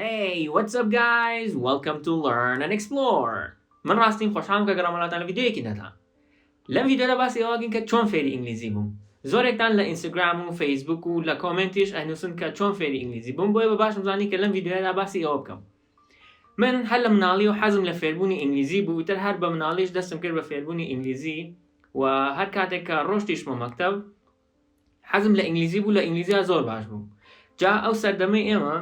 هەی وەتس ئەپ گایز وەلکەم تو لەرن ئەند ئێکسپلۆر من ڕاستیم خۆشحالم کە گەڕامە لاتان لە ڤیدیۆیەکی نوێدا لەم ڤیدیۆدا باسی ئەوە بکەین کە چۆن فێری ئینگلیزی بووم زۆرێکتان لە ئینستاگرام و فەیسبوک و لە کۆمنتیش ئەنووسن کە چۆن فێری ئینگلیزی بووم بۆیە بە باشم زانی کە لەم ڤیدیۆدا باسی ئەوە بکەم من هەر لە مناڵی و حەزم لە فێربوونی ئینگلیزی بوو تر هەر بە مناڵیش دەستم کرد بە فێربوونی ئینگلیزی و هەر کاتێک کە ڕۆشتیشمە مەکتەب حەزم لە ئینگلیزی بوو لە ئینگلیزیا زۆر باش بووم جا ئەو سەردەمەی ئێمە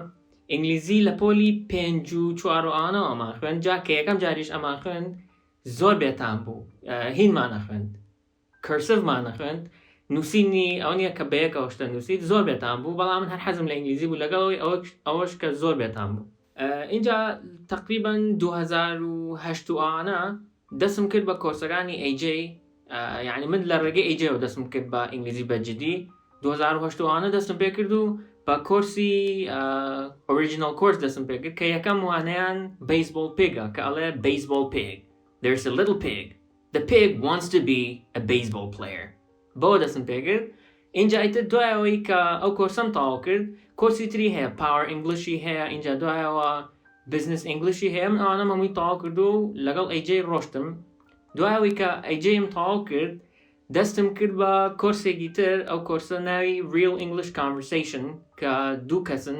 ئینگلیزی لە پۆلی پێنج و چوار و ئەوانەوە ئەمان خوێن جا کە یەکەم جاریش ئەمان خوێن زۆر بێتان بوو هینمان نەخوێند کرسڤمان نەخوێند نووسینی ئەو نیە کە بەیەکەوە شتە نووسیت زۆر بێتان بوو بەڵام من هەر حەزم لە ئینگلیزی بوو لەگەڵەوەی ئەوەش کە زۆر بێتان بوو ئینجا تەقریبەن دوو هەزار و هەشت و ئانا دەسم کرد بە کۆرسەکانی AJ یعنی من لە ڕێگەی AJ و دەسم کرد بە ئینگلیزی بە جدی 2010 وانە دەستم پێ کرد و بە کۆرسی ئۆریژینال کۆرس دەستم پێ کرد کە یەکەم وانەیان بەیسبۆڵ پێگە کە ئەڵێ بەیسبۆڵ پێگ There's a little pig. The pig wants to be a baseball player. بەوە دەستم پێکرد ئینجا ئیتر دوای ئەوەی کە ئەو کۆرسەم تەواو کرد کۆرسی تری هەیە پاوەر ئینگلیشی هەیە ئینجا دوایەوە بزنس ئینگلیشی هەیە من ئەوانە مەمووی تەواو کردو و لەگەڵ ئەیجەی ڕۆشتم دوای ئەوەی کە ئەیجەیم تەواو کرد دەستم کرد بە کۆرسێکی تر ئەو کۆرسە ناوی ریل ئینگلیش کانڤرسەیشن کە دوو کەسن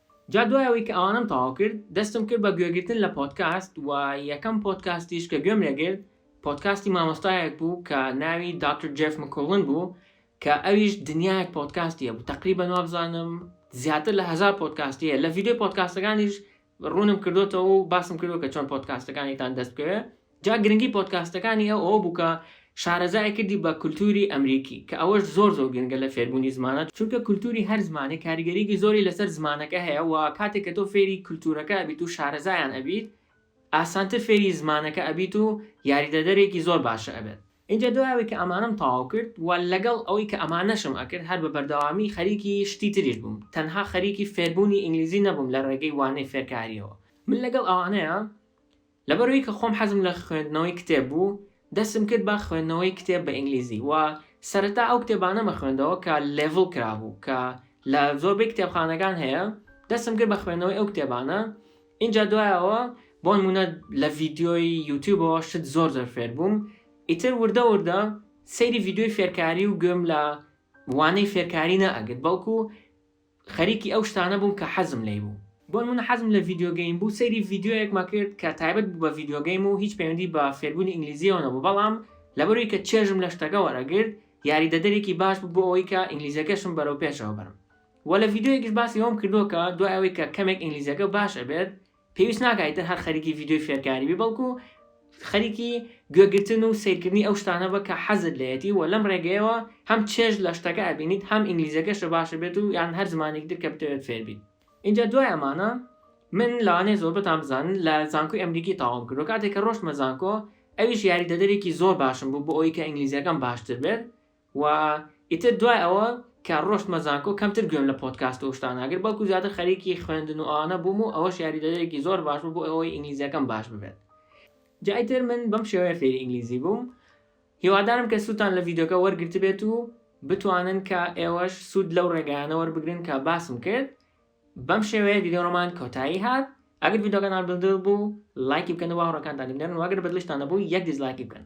جا دوای ئەوەی کە ئەوانەم تەواو کرد دەستم کرد بە گوێگرتن لە پۆدکاست و یەکەم پۆدکاستیش کە گوێم لێگرت پۆدکاستی مامۆستایەک بوو کە ناوی دکتر جێف مکوڵن بوو کە ئەویش دنیایەک پۆدکاستی هەبوو تقریبەن وابزانم زیاتر لە هزار پۆدکاستی هەیە لە ڤیددیو پۆدکاستەکانیش ڕوونم کردوتەوە و باسم کردو کە چۆن پۆدکاستەکانیتان دەست بکەوێت جا گرنگی پۆدکاستەکانی ئەو ئەوە بوو کە شارەزای کردی بە کولتووری ئەمریکی کە ئەوەش زۆر زۆر گرنگە لە فێربوونی زمانە چونکە کولتووری هەر زمانێک کاریگەریی زۆری لەسەر زمانەکە هەیە و کاتێک کە تۆ فێری کولتوورەکە ئەبیت و شارەزایان ئەبیت ئاسانتر فێری زمانەکە ئەبیت و یاریدەدەرێکی زۆر باشە ئەبێت. ئینجا دوای ئەوەی کە ئەمانەم تەواو کرد و لەگەڵ ئەوەی کە ئەمانەشم ئەکرد هەر بە بەردەوامی خەریکی شتی تریش بووم تەنها خەریکی فێربوونی ئینگلیزی نەبووم لە ڕێگەی وانەی فێرکارییەوە من لەگەڵ ئەوانەیە لەبەرئەوەی کە خۆم حەزم لە خوێندنەوەی کتێب بوو، دەستم کرد بە خوێندنەوەی کتێب بە ئینگلیزی و سەرەتا ئەو کتێبانەم خوێندەوە کە لێڤڵ کرابوو کە لە زۆربەی کتێبخانەکان هەیە، دەستم کرد بە خوێندنەوەی ئەو کتێبانە، ئینجا دوای ئەوە بۆنموونە لە ڤیدیۆی یوتیوبەوە شت زۆر زۆر فێربووم، ئیتر وردە وردە سەیری ڤیدیۆی فێرکاری و گوێم لە وانەی فێرکاری نەئەگرت بەڵکو خەریکی ئەو شتانە بووم کە حەزم لێی بوو. بۆ نموونە حەزم لە ڤیدیۆ گەیم بوو، سەیری ڤیدیۆیەکمان کرد کە تایبەت بوو بە ڤیدیۆ گەیم و هیچ پەیوەندی بە فێربوونی ئینگلیزییەوە نەبوو، بەڵام لەبەروەی کە چێژم لە شتەکە وەرئەگرت، یاریدەدەرێکی باش بوو بۆ ئەوەی کە ئینگلیزییەکەشم بەرەو پێشەوە بەرم. وە لە ڤیدیۆیەکیش باسی ئەوەم کردووە کە دوای ئەوەی کە کەمێک ئینگلیزییەکە باش ئەبێت، پێویست ناکا ئیتر هەر خەریکی ڤیدیۆی فێرکاری بی بەڵکو خەریکی گوێگرتن و سەیرکردنی ئەو شتانە بە کە حەزت لێیەتی و لەم ڕێگەیەوە هەم چێژ لە شتەکە ئەبینیت هەم ئینگلیزیەکەشە باشە بێت و یان هەر زمانێکی تر کە بتەوێت فێر بیت ئینجا دوای ئەمانە من لەوانەیە زۆربەتان بزانن لە زانکۆی ئەمریکی تاوام کردو کاتێک کە ڕۆشتمە زانکۆ ئەویش یاریدەدەرێکی زۆر باشم بوو بۆ ئەوی کە ئینگلیزیەکەم باشتر بێت و ئیتر دوای ئەوە کە ڕۆشتمە زانکۆ کەمتر گوێم لە پۆدکاست و شتانە گرت بەڵکو زیاتر خەریکی خوێندن و ئەوانە بووم و ئەوەش یاریدەدەرێکی زۆر باش بوو بۆ ئەوەی ئینگلیزیەکەم باش ببێت جا ئیتر من بەم شێوەیە فێری ئینگلیزی بووم هیوادارم کە سووتان لە ڤیدۆکە وەرگرتبێت و بتوانن کە ئێوەش سوود لەو ڕێگایانە وەربگرن کە باسم کرد بەم شێوەیە ڤیدۆڕۆمان کۆتایی هات ئەگەر ڤیدۆکەتان بڵدر بوو لایکی بکەن و باوەڕەکانتانی بنێرن واگەر بەدلشتان نەبوو یەک دیزلایکی بکەن